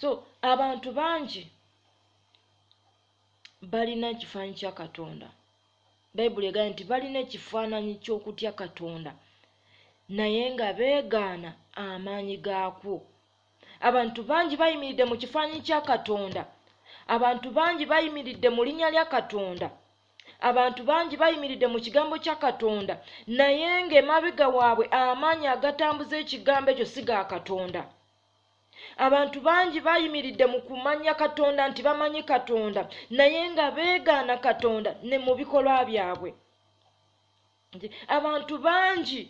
so abantu bangi balina ekifaananyi kya katonda bayibuli egambye nti balina ekifaananyi ky'okutya katonda naye nga beegaana amaanyi gaakwo abantu bangi bayimiridde mu kifaananyi kya katonda abantu bangi bayimiridde mu linnya lya katonda abantu bangi bayimiridde mu kigambo kya katonda naye ng'emabega waabwe amaanyi agatambuza ekigambo ekyo si ga katonda abantu bangi bayimiridde mu kumanya katonda nti bamanyi katonda naye nga beegaana katonda ne mu bikolwa byabwe abantu bangi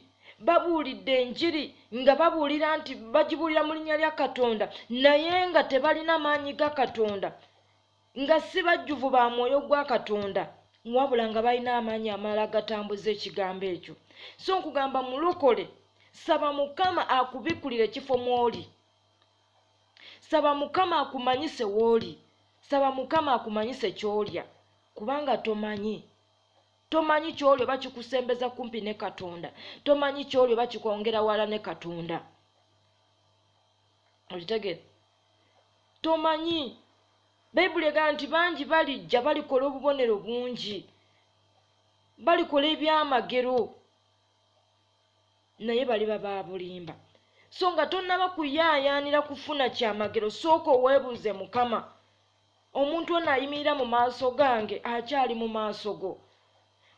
babuulidde enjiri nga babuulira nti bagibuulira mu linnya lya katonda naye nga tebalina maanyi ga katonda nga si bajjuvu ba mwoyo gwa katonda wabula nga balina amaanyi amalala agatambuza ekigambo ekyo so nkugamba mulokole saba mukama akubikulira ekifo mwoli saba mukama akumanyise wooli saba mukama akumanyise kyolya kubanga tomanyi tomanyi kyolya oba kikusembeza kumpi ne katonda tomanyi kyolya oba kikwongera wala ne katonda okitegere tomanyi bayibuli egamba nti bangi balijja balikola obubonero bungi balikola ebyamagero naye baliba babulimba so nga tonnaba kuyaayaanira kufuna kyamagero sooka oweebuuze mukama omuntu ono ayimirira mu maaso gange akyali mu maaso go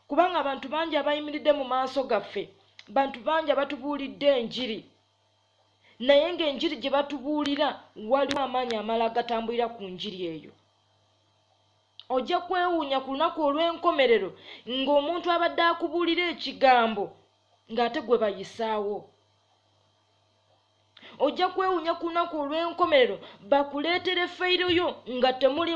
kubanga abantu bangi abayimiridde mu maaso gaffe bantu bangi abatubuulidde enjiri naye ng'enjiri gye batubuulira waliwo amaanyi amala agatambulira ku njiri eyo ojja kwewuunya ku lunaku olw'enkomerero ng'omuntu abadde akubuulira ekigambo ng'ate gwe bayisaawo ojja kwewuunya ku lunaku olw'enkomerero bakuleetere feyiro yo nga temulimu